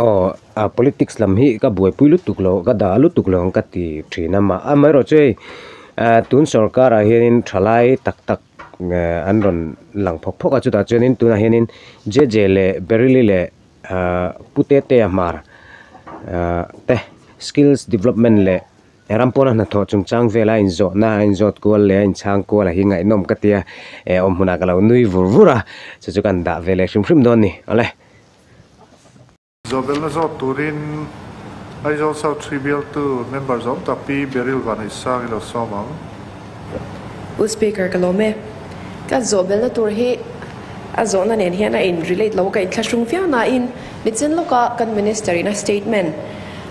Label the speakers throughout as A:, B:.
A: Aw a politics lam hi ka buaipui lutuk lo ka dah lutuk lo ang ka ti thin a mah amaherawh chu hei tun sorkarah hianin tha lai tak tak an rawn lang phawk phawk a chutah chuanin tunah hianin JJ leh Berylli leh Pu Teteia hmar te skills development leh Rampuana hnathawh chungchang vela inzawhna a inzawt kual leh a inchhang kual a hi ngaihnawm ka tia awm hunah ka lo nui vur vur a chu chu kan dah veleh hrim hrim dawn a ni awle. Zawbelna
B: zawt turin Aizawl South Three bialtu member zawm tak Pi Beril Vanaisang i lo sawm ang.
C: U Speaker, ka lawm e. Ka zawbelna tur hi a zawhna nen hian a in relate lo ka inthlahrung viau nain mi chen lawka kan Minister ina statement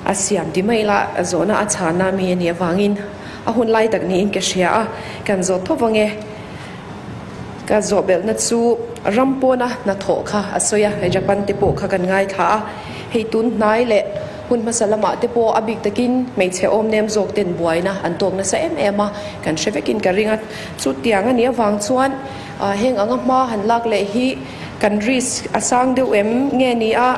C: a siam ti mai la, a zawhna a chhana mi a nih avangin a hunlai tak niin ka hria a, kan zawt tho vang e. Ka zawhbelhna chu ram pawna hnathawh kha a sawi a, hei Japan te pawh kha kan ngaithla a, hei tun hnai leh hun hmasa lamah te pawh a bik takin hmeichhe awmnem zawk ten buaina an tawk nasa em em a, kan hre vekin ka ring a, chutiang a nih avang chuan heng anga hma han lak leh hi kan risk a sang deuh em nge ni a,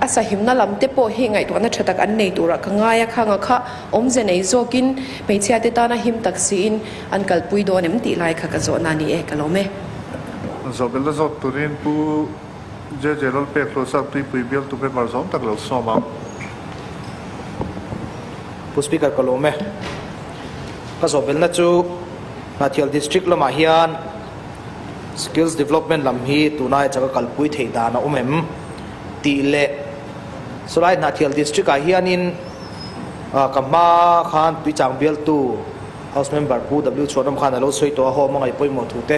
C: a sahimna lam te pawh hi ngaihtuahna tha tak an nei turah ka ngai a, khang a kha awmze nei zawkin hmeichhia te tana him tak si in. An kalpui dawn em tih lai kha ka zawhna ni e ka lawm e. Zawhbel
B: la zawt turin Pu JJ Lawlpek Hlawhsap Tuipui bial tu member zawng tak lo sawm ang.
D: Pu Speaker ka lawm e. Ka zawhbelna chu Hnahthial District lamah hian Skills Development lam hi tunah hian chaka kalpui theih dan a awm em tih leh chulai Hnahthial District ah hianin ka hma khan tuichang bial tu, House Member Pu W Chhuanawm khan a lo sawi tawh a home a ngaihpawimawh thu te.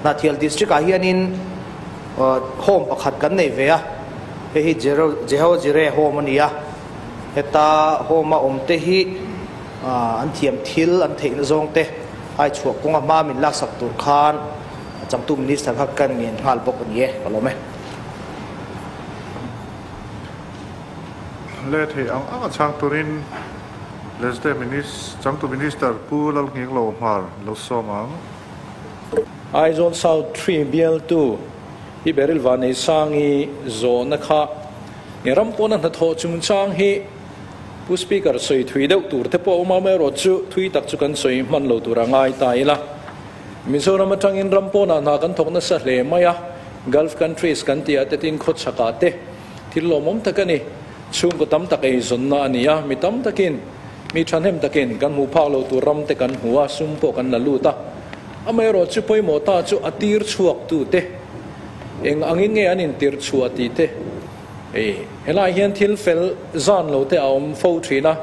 D: Hnahthial District ah hianin home pakhat kan neih ve a, hei hi Jehao Jire home a ni a, heta home a awm te hi an thiam thil an theihna zawng te ai chhuah kawnga hma min laksak tur khan Changtu Minister kha kan ngen nghal bawk a ni e, ka lawm e.
B: Leh theih ang anga chhak turin. Wednesday Changtu Minister Pu Lalnginglo Hmar lo sawm ang.
E: Aizawl South Three bialtu i Beryl Vaneisangi zawhna kha i ram pawna hnathawh chungchang hi Pu Speaker sawi thui deuh tur te pawh a awm a, amaherawh chu thui tak chu kan sawi hman lo tur a ngai ta ila Mizoram atangin ram pawnah hna kan thawk nasa hle mai a, Gulf countries kan ti a, Tet Inkawchhakah te. Thil lawmawm tak a ni. Chhungkaw tam tak eizawnna a ni a. Mi tam takin, mi thahnem takin kan hmuh phak lo tur ram te kan hmu a, sum pawh kan la lut a. Amaherawh chu pawimawh ta chu a tir chhuaktu te, eng angin nge an intirchhuah tih te, hei, helai hian thil fel zan lo te a awm fo thin a,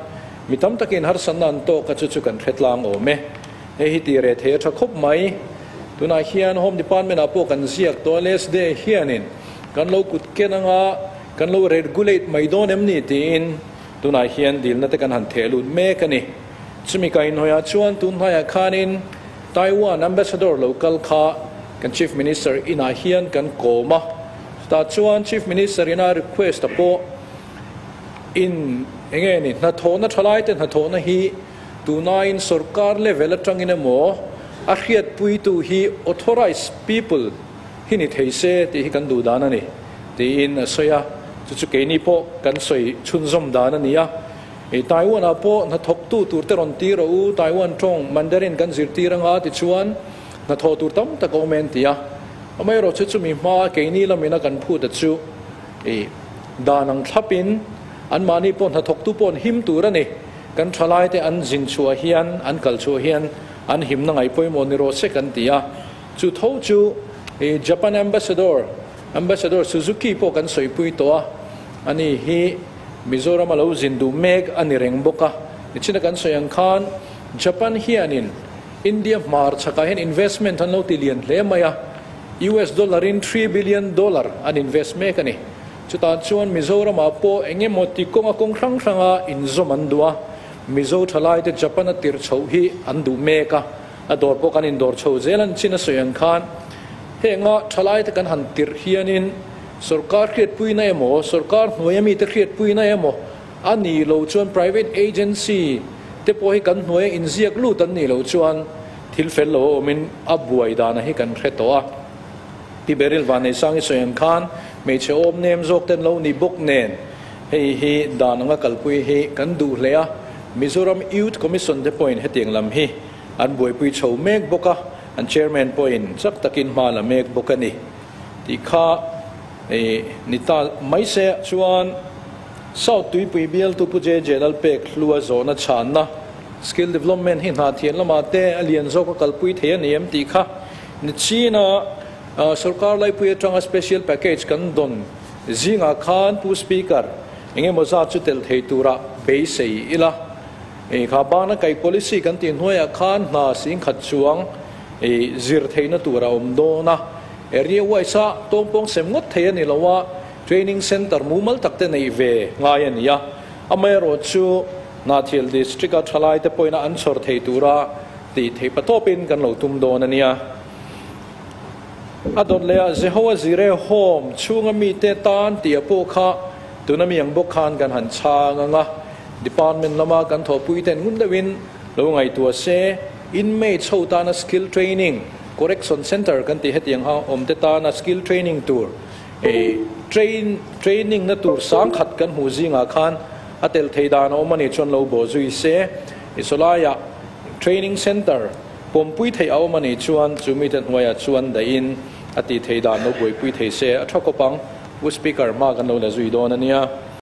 E: mi tam takin harsatna an tawk a, chu chu kan hre tlang awm e. Hei hi ti reh thei a tha khawp mai. Tunah hian Home Department-ah pawh kan ziak tawh a, last day-ah hianin Kan lo kut ken anga kan lo regulate mai dawn em ni tiin tunah hian dilna te kan han theh lut mek a ni. Chumi kaihnawiha chuan tun hnaiah khanin Taiwan Ambassador lo kal kha kan Chief Minister inah hian kan kawm a, chutah chuan Chief Minister ina request-a pawh in eng nge ni hnathawhna thalai te hnathawhna hi tunain sorkar level atangin emaw a hriatpuitu hi authorized people hi ni thei se tih hi kan duh dan a ni tiin a sawi a, chu chu keini pawh kan sawi chhunzawm dan a ni a, i Taiwan-ah pawh hnathawktu tur te rawn tir rawh u, Taiwan tawng Mandarin kan zirtir anga tichuan hnathawh tur tam tak a awm e an ti a, amaherawh chu chumi hma keini lamin a kan phut a chu i dan ang thlapin anmahni pawh hnathawktu pawh an him tur a ni, kan thalaite an zin chhuah hian an kal chhuah hian an himna ngaipawimawh ni rawh se kan ti a. Chu tho chu i Japan Ambassador, Ambassador Suzuki pawh kan sawipui tawh a, a ni hi Mizoram a lo zin duh mek a ni reng bawk a. Nichina kan sawi ang khan Japan hianin India hmar chhakah hian investment an lo ti lian hle mai a, US dollar in three billion dollar an invest mek a ni. Chutah chuan Mizoramah pawh eng emaw ti kawng a kawng hrang hrang a inzawm an duh a, Mizo tha laite Japan a tirh chhoh hi an duh mek a. A dawr pawh kan indawr chho zel a ni chin a sawi ang khan heng a thalai te kan han tirh hian in sorkar hriatpuina emaw sorkar hnuaia mi te hriatpuina emaw a ni lo chuan private agency te pawh hi kan hnuaia inziak lut an nih loh chuan thil fel lo awm in a buai dan a hi kan hre tawh a. Pi Beryl Vaneisangi sawi ang khan hmeichhe awm nem zawk te an lo ni bawk nen Hei hi dan anga kalpui hi kan duh hle a, Mizoram Youth Commission te pawhin hetiang lam hi an buaipui chho mek bawk a, an Chairman pawhin chak takin hma la mek bawk a ni tih kha i ni ta mai se. Chuan South Tuipui bialtu Pu JJ Lalpek hlua zawhna chhanna Skill Development hi hna thian lamah te a lian zawk a kalpui thei a ni em tih kha ni chin a, Sorkar laipui atanga Special Package kan dawn Zingah khan Pu Speaker, engemaw zat chu tel thei tura beisei ila ih kha bana kaih policy kan tih hnuaiah khan hna sing khat chuang ih zir theihna tur a awm dawn a. Area wise-a tawngpawng sem ngawt thei a ni lo a, training centre mumal tak te neih ve ngai a ni a. Amah erawh chu Hnahthial District-a thalaite pawina an chhawr thei tura tih theih patawpin kan lo tum dawn a nia. A dawt leh a Jehoa Jirehawm chhunga mite tan tia pawh kha tun a mi ang bawk khan kan han chhang ang a. Department lama kan thawhpuite'n ngun deuhin lo ngaihtuah se, inmate chho tana Skill Training, Correction Centre kan tih hetiang ho awmte tana Skill Training tur eh train training na tur sang khat kan hmuh zingah khan a tel thei dan a awm a nih chuan lo baw zui se. Isawlaiah Training Centre. Pawmpui theih a awm a nih chuan chu mite hnuaiah chuan dahin a tih theih dan lo buaipui thei se a tha khawp ang, U Speaker, mark an lo la zui dawn a nia.